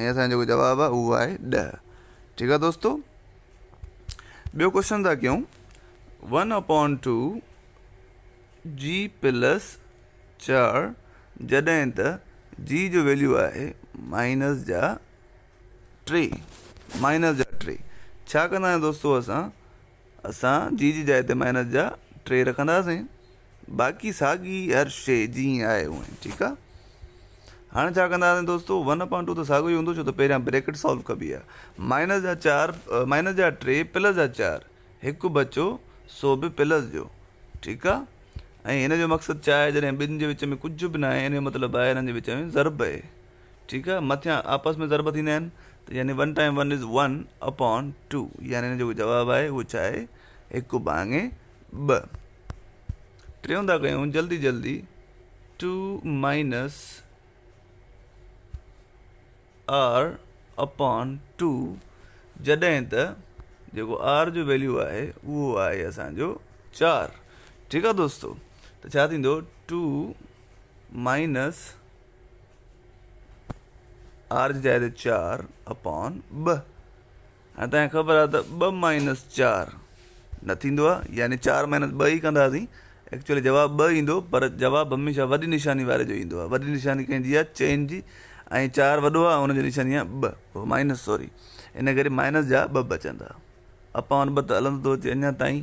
۽ اسان جو جيڪو جواب آهي اهو آهي ڏهه ٺيڪ آهي دوستو ٻيو ڪوشچن ٿا ڪيون ون اپون ٽو جي پلس چار جڏهن ته جي جو ويليو آهي مائنس جا ٽي مائنس جا ٽي ڇا ڪنداسين دوستو اسان اسان جي جي جاء تي مائنس جا ٽي رکنداسين باقي ساڳي هر شيء جيئن آهي اونئي ٺيڪ آهي هاڻي ڇا ڪنداسين دوستو ون اپان ٽو ته ساڳو ئي هوندو ڇو ته پهريان بريڪٽ سالو ڪبي آهي مائنس جا چار مائنس جا ٽي پلس جا چار هڪ بچو سو به پلس جو ٺيڪ آهي ۽ هن جو مقصد ڇا آهي جڏهن ٻن جي وچ ۾ ڪجهه به ناهي هن جو مطلب آهي هنن جي وچ ۾ ضرب آهي ٺيڪ آهي مٿيان آپس ۾ ضرب ٿيندا آهن ته يعني one time one is one upon two يعني ان جو جواب آهي اهو ڇا آهي هڪ ڀاڱي ٻه ٽيون ٿا ڪيون جلدي جلدي two minus r upon two جڏهن ته جيڪو آر جو ويليو آهي اهو آهي اسانجو چار ٺيڪ آهي دوستو ته ڇا ٿيندو ٽو مائنس آر جي جاء تي چار اپان ٻه هاڻي تنهن خبر آهي ته ٻه مائنس چار نه ٿيندو آهي يعني چار مائنس ٻه ئي ڪنداسين ايڪچولي جواب ٻه ايندو پر جواب هميشه وڏي نشاني واري جو ايندو آهي وڏي نشاني ڪنهن جي آهي چئن جي ۽ چار وڏو آهي ان جي نشاني آهي ٻه مائنس سوري ان ڪري مائنس جا ٻه بچندا اپان ٻه ته هلندو ٿو اچي اڃا تائين